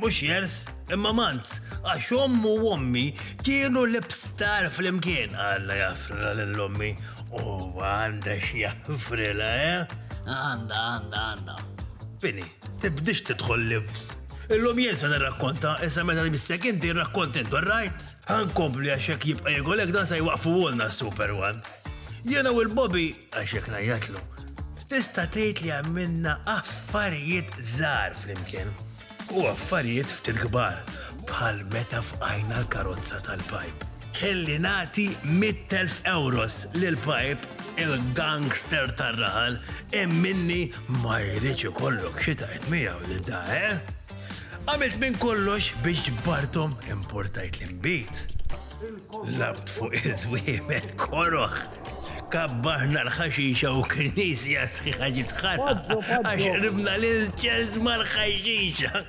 Mhux jers, imma manz, għax ommu u ommi kienu l-ipstar flimkien. Alla jaffrila lil ommi u għandha x'jaffrila, eh? Għandha, għandha, għandha. Fini, tibdix tidħol libs. Illum jien se nirrakkonta, issa meta nibissek inti rrakkont intu, rajt? Ħankompli għax hekk jibqa' jegolek dan se jwaqfu għolna Super One. Jiena u l-Bobby Għax jekk ngħajjatlu, tista' tgħid li għamilna affarijiet żgħar flimkien u affarijiet ftit kbar bħal meta fqajna l-karozza tal-pajp. Kelli nagħti 100,000 euros lil pajp il-gangster tar-raħal imminni ma jridx ikollok xi tajt miegħu lil da, eh? Għamilt minn kollox biex ġbartom importajt l-imbit. Labt fuq iż-żwiemel koroħ. Kabbarna l-ħaxixa u knisja sħiħa ġiet ħana għax ribna l-inċens mal-ħaxixa.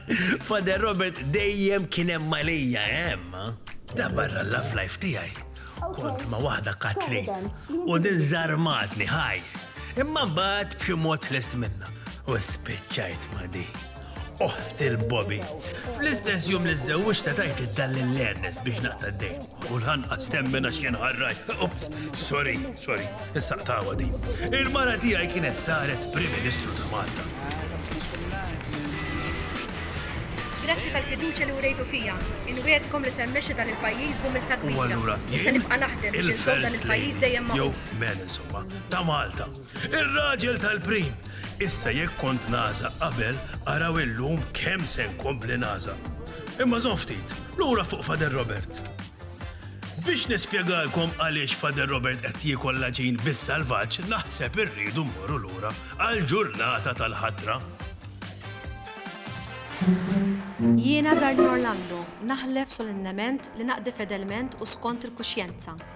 Fader Robert dejjem kien hemm malija hemm. Da barra l-laf life tiegħi. Kont ma' waħda Kathleen u din żarmatni ħaj. Imma mbagħad b'xi mod lest minna u spiċċajt ma' dik. oħt il-Bobby. Fl-istess jum li żewġ ta' tajt id-dall l-Ernest biex naqta d-dejn. U l-ħanqas temmen għax kien ħarraj. Ups, sorry, sorry, issa qtawa di. Il-mara tiegħi kienet saret Prim Ministru ta' Malta. Grazzi tal-fiduċa li urejtu fija. Inwietkom li semmexi dan il-pajjiż bum il-tagwira. Issa nibqa' naħdem biex dan il-pajjiż dejjem ma' Jew men insomma, ta' Malta. Ir-raġel tal-prim, Issa jekk kont nagħżaq qabel, araw illum kemm se nkompli nagħżaq. Imma żomm ftit, lura fuq Father Robert. Biex nispjegalkom għaliex Father Robert qed jiekol l-għaġin bis-salvaġġ naħseb irridu mmorru lura għall-ġurnata tal-ħatra. Jiena Darlene Orlando, naħlef solennement li naqdi fedelment u skont il-kuxjenza,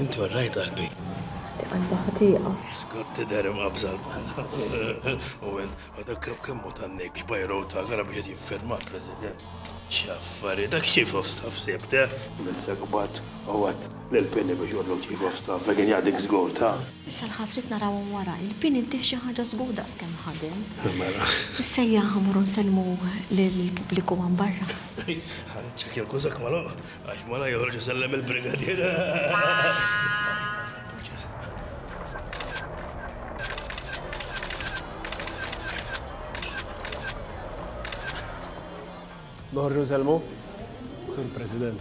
Inti warrajt qalbi. Di qalba ħatiqa. Skont tidher imqabża l-bħalqa. U minn dak kemm hu tan-nik xbajru ta' gara biex qed jiffirma l-President. X'affarijiet, dak Chief of Staff sibt, eh? Nifsek mbagħad u għedt lill-Pini biex iqol lil Chief of Staff jekk kien jaqdik żgur ta'. Issa l-ħadd ridt narawhom wara. Il-Pini ntih xi ħaġa żgur daqs kemm ħadem. Mela. Issejjaħ ħa morru nsellmu lill-pubbliku hawn barra. Ħa niċċekkja l-kużak magħluq għax mara joħroġ isellem il-brigadier. Noħorġu nsellmu? Sur President.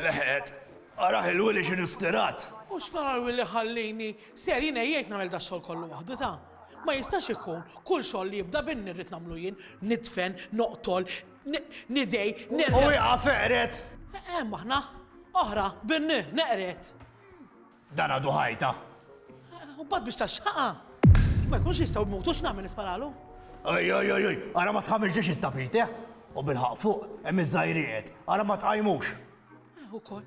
Leħet, araħ il-wili xinu stirat. U xnaħar li ħallini Ser jien għejjejt nagħmel dax-xogħol kollu waħdu ta? Ma jistax ikun, kull xogħol li jibda b'inni rrid nagħmlu jien, nidfen, noqtol, ni, nidej, nerdel. U iqaf eqred! Hemm aħna, oħra, b'inni, neqred. Dan għadu ħajta. U mbagħad biex taxxaqha. Ma jkunx jistgħu jmutu x'nagħmel nisparalu? Ej, ej, ej, ej, ara ma tħamilġiex it-tapit, eh? U bilħaq fuq, hemm iż-żgħirijiet, ara ma tqajmux. Eh, ukoll.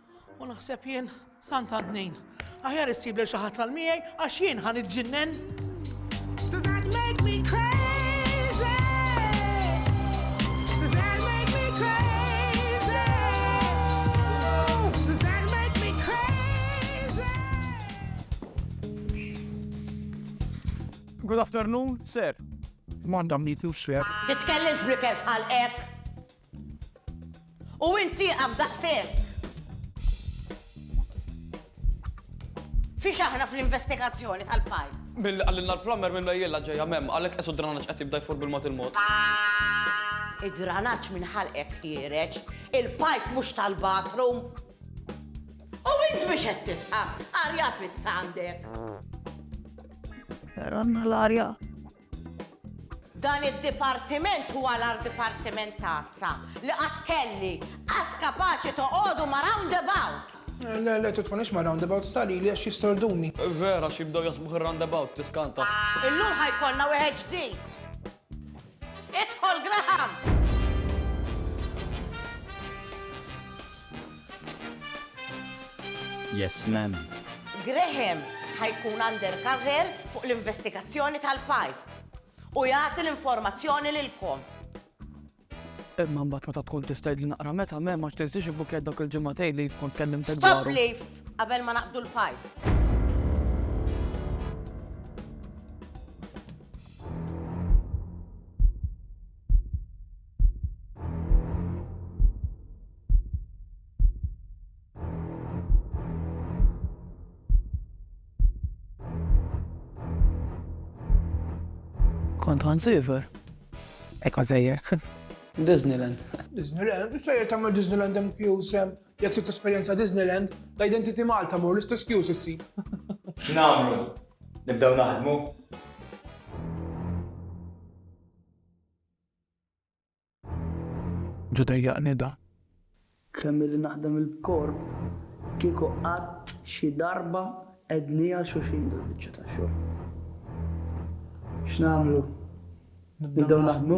U naħseb jien, sant għand min? Aħjar issib lil xi ħadd tal miegħi għax jien ħan iġġinnen. Good afternoon, sir. Manda mnitu, sir. Titkellimx b'rikef bħal hekk. U int tieqaf daqshekk! Fiex aħna fl-investigazzjoni tal-pajp? Milli qalilna l-plumber minn Mejjilla ġejja m'hemm, għalhekk qes u d-dranaġġ qed jibda jfur bil-mod il-mod. Id-dranaġġ minn ħalqek ħiereġ, il-pajp mhux tal-bathroom! U int biex qed tidħak? Arja fissa għandek! Ranna l-arja! Dan id-dipartiment huwa l-agħar dipartiment tagħssa li qatt kelli, qas kapaċi toqogħdu ma' roundabout! Le, le, titħunix ma' roundabouts ta' lili għax jistorduni. Vera, għax jibdew jaħsbuh ir-roundabout, tiskanta. Illum ħa jkollna wieħed ġdid. Idħol, Graham! Yes ma'am. Graham ħa jkun undercover fuq l-investigazzjoni tal-pajp u jagħti l-informazzjoni lilkom. Imma mbagħad meta tkun tista' jidli naqra meta mem għax tinsiex ibbukjat dak il-ġimgħatejn li jkun kellim tek dwaru. Stop li qabel ma naqdu l-pajp. Kont għan sever. Ekon sever. Disneyland. Disneyland, issa jgħet għamma Disneyland hemm kjusem, jgħet trid esperjenza Disneyland, ta' identity Malta mur l-istess kjus issi. X'namlu? Nibdew naħdmu? Ġa dejjaqni da. Kemm illi naħdem il-b'korp, kieku qatt xi darba għednieha xulxin dil-biċċa ta' xogħol. X'nagħmlu? Nibdew naħdmu?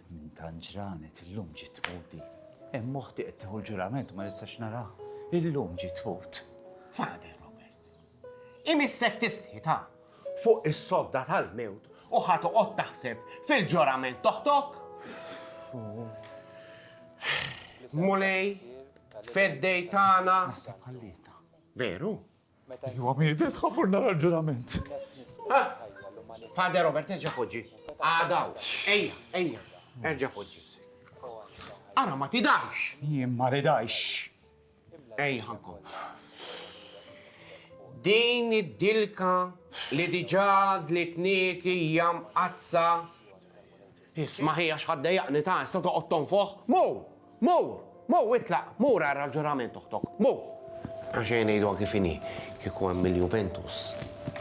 Minn tant ġranet illum ġiet tmut di. Hemm oħti qed tieħu l-ġurament u ma nistax naraha. Illum ġiet tmut. Father! Imissek tisħitha fuq is-sodda tal-mewt u ħa toqgħod taħseb fil-ġurament t'oħtok? Mulej, feddej tagħna. Naħseb ħallietha. Veru? Iwa mietet ħammur nara l-ġurament. Fader Robert, erġa' poġġi. Għadaw, ejja, ejja, erġa' poġġi. Ara ma tidajx. Jien ma ridajx. Ej ħakku. Din id-dilka li diġà dlitniek hija mqaddsa. Isma' ħi għax ħadd dejjaqni ta' issa toqgħod tonfoħ. Mur! Mur! Mur itlaq! Mur ara l-ġurament oħtok. Mur! Għax ejja ngħiduha kif inhi, kieku hemm il-Juventus,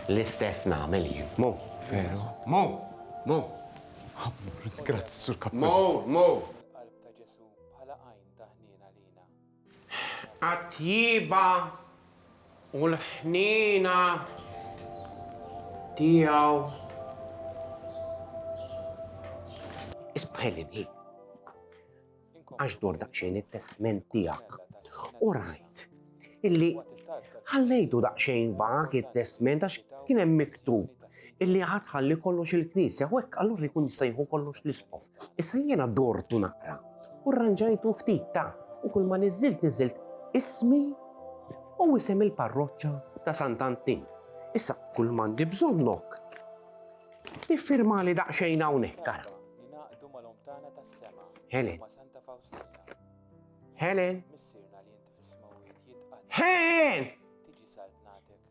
l-istess nagħmel jien. Mur! Veru? Mur! Mur! Grazzi, Sur Kappell. Mur! Mur! Għat-tjieba u l-ħniena tiegħu. Isma' Helen, hi. Għax dort daqsxejn it-testament tiegħek u rajt illi ħallejtu daqsxejn vag it-testament għax kien hemm miktub illi ħadd ħalli kollox il-Knisja u hekk allura jkun jista' jieħu kollox l-isqof. Issa jiena dortu naqra u rranġajtu ftit ta' u kull ma niżżilt niżżilt ismi u isem il-parroċċa ta' Sant' Antin. Issa kull m'għandi bżonnok tiffirmali daqsxejn hawnhekk ara. Helen. Helen. Helen!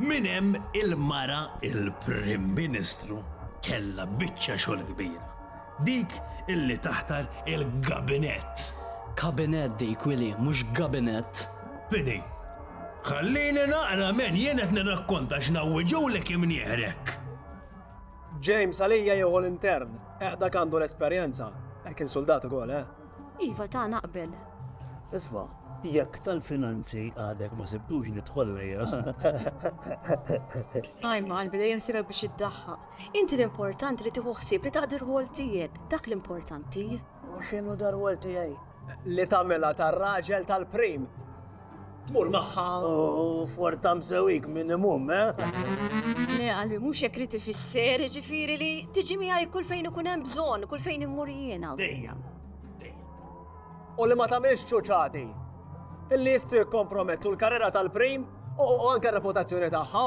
Minn hemm il-mara il-Prim Ministru kellha biċċa xogħol kbira, dik illi taħtar il-gabinett. Kabinett dik, Willy, mhux gabinett. Bini, ħallini naqra men jien qed nirrakkonta x'nawwiġulek imnieħrek. James għalija jieħu l-intern, eqda għandu l-esperjenza, kien soldat ukoll, eh? Iva ta' naqbel. Isma, jekk tal-finanzi għadek ma sibtux nidħol lejja. Għajma għalbi dejjem sibek biex iddaħħa. Inti l-importanti li tieħu ħsieb li taqdir rwol tiegħek, dak l-importanti. U x'inhu dar rwol tiegħi? Li tagħmilha tar-raġel tal-prim. Tmur magħha for tam sewik minimum, eh? Le, għalbi, mhux jekk riti fisser, ġifieri li tiġi miegħi kull fejn ikun hemm bżonn, kull fejn immur jiena. Dejjem. U li ma tagħmilx ċuċati. Illi jistgħu jikkompromettu l-karriera tal-prim u anke reputazzjoni tagħha.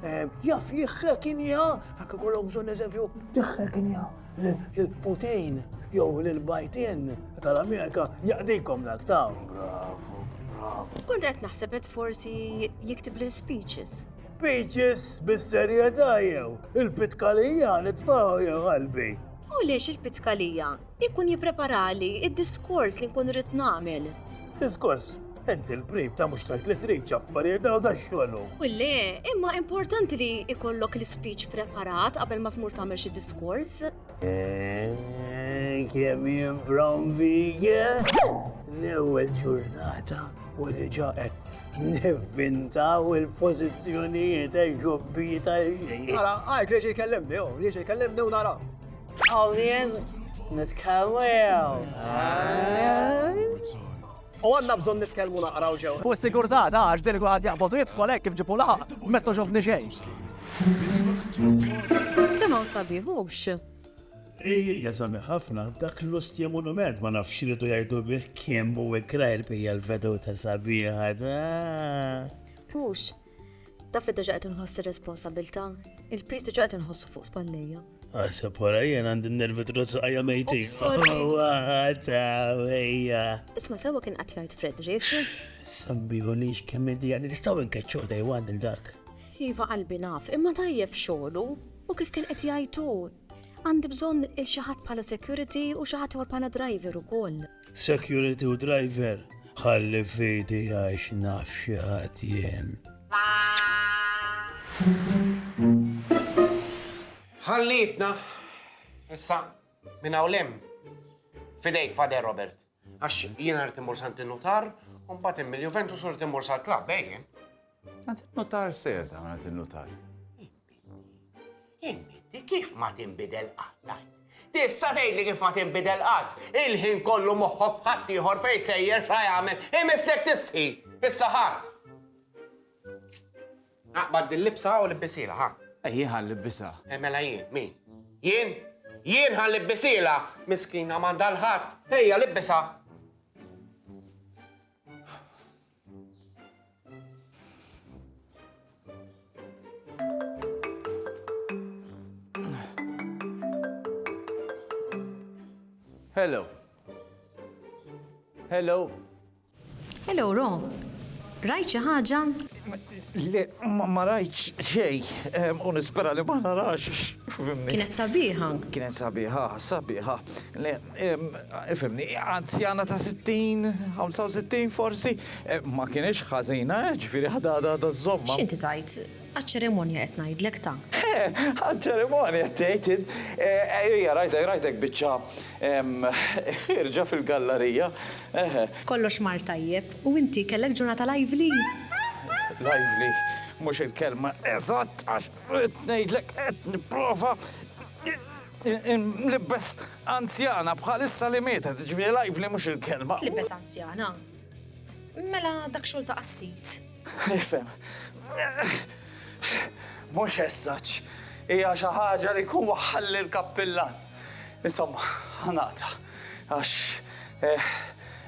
Eh, jaf jihrekinja, għak kollok bżon eżempju, tihrekinja l-Putin jew l-Bajtin tal-Amerika jaqdikom dak ta' bravo, bravo. Kont qed naħseb qed forsi jiktib l speeches. Speeches bis-serjetà jew il-pitkalija nitfaw jew qalbi. U lix il-pitkalija Ikun jippreparali id-diskors li nkun irrid nagħmel. Diskors? Inti l-prib ta' mhux tajt li trid affarijiet daw da xogħlu. U le, imma importanti li ikollok l-speech preparat qabel ma tmur tagħmel xi diskors. Eh, kemm jimbrom bige? L-ewwel ġurnata u diġà qed Nivvintaw il-pozizjonijiet, ġobbi tal-ġej. Għara, għajt li ġej kellimni, oh, li ġej kellimni u nara. Għawlien, nitkellmu jew. U għanna bżon nitkellmu naqraw ġew. U s-sigurtà ta' għax din kulħadd jaqbod u jidħol hekk kif ġipu laħaq, mezzo xofni xejn. Temaw sabiħ mhux. Ija sami ħafna, dak l-ustja monument ma nafx li tu jajdu bih kien bu ikrajr bija l-vedu ta' sabiħa da. Pux, Taf li diġa qed inħoss ir-responsabilità, il-pis diġa qed inħossu fuq spallejja. Għasab ah, wara jien għandi nervi trozz għajja mejti. Isma sewa kien qed jgħid Fred, riexi? Sambiħu li xkemm id-dija li nistgħu nkeċċu dej għand il-dak. Iva qalbi naf, imma tajjeb xogħlu u kif kien qed jgħidu. Għandi bżonn il-xi ħadd bħala security u xi ħadd bħala driver ukoll. Security u driver, ħalli fidi għax naf xi ħadd jien. Ħallitna, issa minn hawn Fidejk fader Robert. Għax jiena rrid immur sant il-nutar, u mbagħad immil Juventus u rrid immur sal-klabb, ejjen. Għad il-nutar ser ta' għad il-nutar. Inti kif ma tinbidel qatt ngħid? Tista' tgħidli kif ma tinbidel qatt? Il-ħin kollu moħħok f'ħadd ieħor fejn sejjer x'ha jagħmel. Imissek tistħi, issa ħa. Aqbad dil-libsa u libbisilha, ħa. Eh, jien ħa nlibbisha. Eh, mela jien, min? Jien? Jien ħa nlibbisila, miskina m'għandha l-ħadd. Ejja, libbisha. Hello. Hello. Hello, Ro. Rajt xi ħaġa? Le, ma rajt xej, u nispera li ma narax. Kienet sabiħa. Kienet sabiħa, sabiħa. Le, Ifimni, anzjana ta' 60, 65 forsi, ma kienx ħażina, eh, ġifieri ħadha għadha żżommha. X'inti tgħid? Għaċ-ċerimonja qed ngħidlek ta'. Eh, għaċ-ċerimonja tgħid int. Ejja, rajtek, rajtek biċċa ħierġa fil-gallarija, eħe. Kollox mar tajjeb, u inti kellek ġurnata lively? Lively mhux il-kelma eżatt għax ridt ngħidlek qed nipprova. Libbes anzjana bħalissa li mietet, ġifieri lively mhux il-kelma. Tlibbes anzjana? Mela dak xogħol ta' qassis. Nifhem. Mhux eżatt. Hija xi ħaġa li jkun waħħalli l-kappillan. Insomma, ħa naqta' għax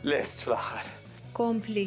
lest fl-aħħar. Kompli.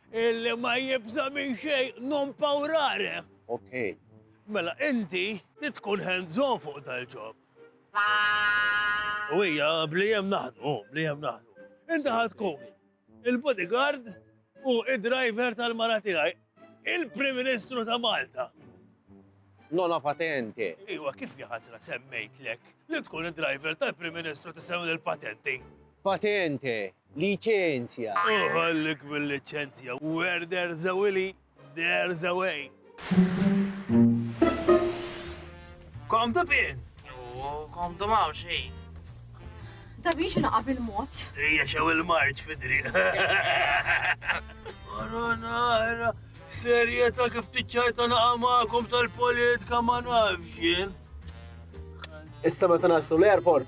Illi ma jibża' minn xejn, non paurare. Ok. Mela inti trid tkun hands on fuq dal-ġob. U hija bli hemm naħdmu, bli hemm naħdmu. Inti ħa tkun il-bodyguard u d-driver tal-mara tiegħi, il-Prim Ministru ta' Malta. Nonna patente. Iwa, kif ja ħasra semmejtlek li tkun id-driver tal-Prim Ministru tisem lil patenti? Patente. Liċenzja! Uħollik bil-liċenzja! Where there's a Willy, there's a way! Come to pin! U come to maw xejn! Da biex naqa bil-mod! Ija xew il-marċ fidri! Marona, era! Serjeta kif tiċċajta naqa maqom tal-politika ma nafxin. Issa meta naslu l-airport,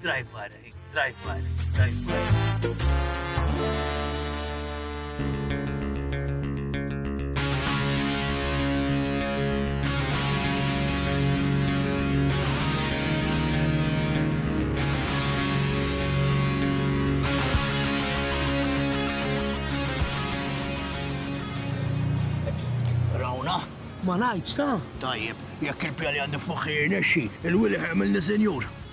Driver, driver, driver. ma ngħidx ta'. Tajjeb, jekk il-pjan li għandi f'moħħi jirnexxi, il-wili ħajmilni sinjur.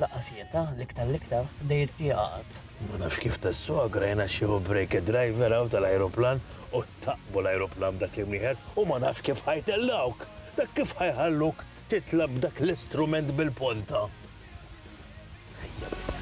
Lanqas jieta, l-iktar l-iktar, bda jirtieqa qatt. Ma nafx kif tas-suq grajn għax jieħu break id-driver hawn tal-ajruplan u ttaqbu l-ajruplan b'dak l-imnieħer u ma nafx kif ħa jtellgħuk! Dak kif ħa jħalluk titla' b'dak l-istrument bil-ponta! Ejja bibien.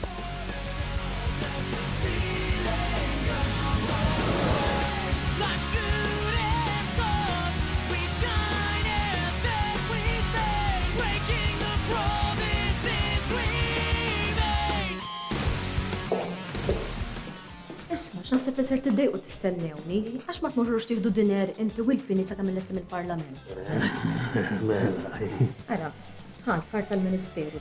naħseb li ser tiddejqu tistennewni, għax ma tmorrux tieħdu dinner inti u l-pini sa' kemm il-lesti mill-parlament. Mela, Ara, ħan ħar tal-ministeru,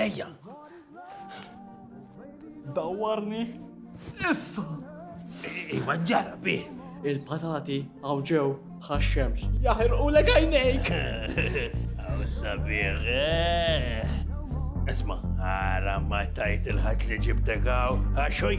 Ejja! Dawarni! Issa! Iwa ġara bi! Il-patati għaw ġew bħax-xemx. Jaħir u l għajnejk! Għaw sabiħ! Eh. Esma, għara ma tajt il-ħat li ġibtek għaw, għaxoj,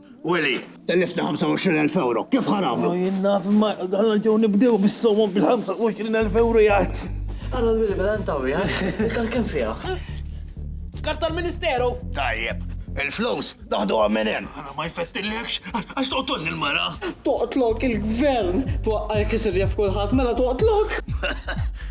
Willy, tellifna 25,000 euro, kif ħa nagħmlu? Jien naf ma għal ġew nibdew bis-somom bil-25,000 euro jgħid. Għal Willy mela ntaw jgħid, il-kal kemm fiha? Karta l-Ministeru! Tajjeb, il-flus naħdu minn hemm. Ara ma jfettilekx, għax toqtolni l-mara. Toqtlok il-gvern, twaqqajk isir jaf kulħadd mela toqtlok.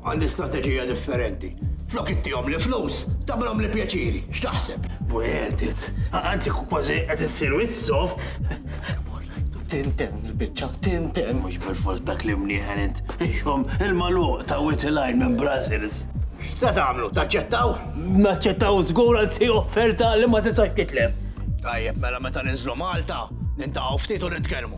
Għandi strateġija differenti. Flok ittihomli flus, tagħmilhomli pjaċiri. X'taħseb? Wegħdet. Anzi kważi qed issir wisq soft. Mor ngħidlu tintenn il-biċċa, tintenn. Mhux bilfors b'dak l-imnieħer int. Ixhom il-magħluq ta' Wied il-Għajn minn Brussels. X'se tagħmlu, taċċettaw? Naċċettaw żgur, anzi offerta li ma tistax titlef. Tajjeb mela meta ninżlu Malta, nintaqgħu ftit u nitkellmu.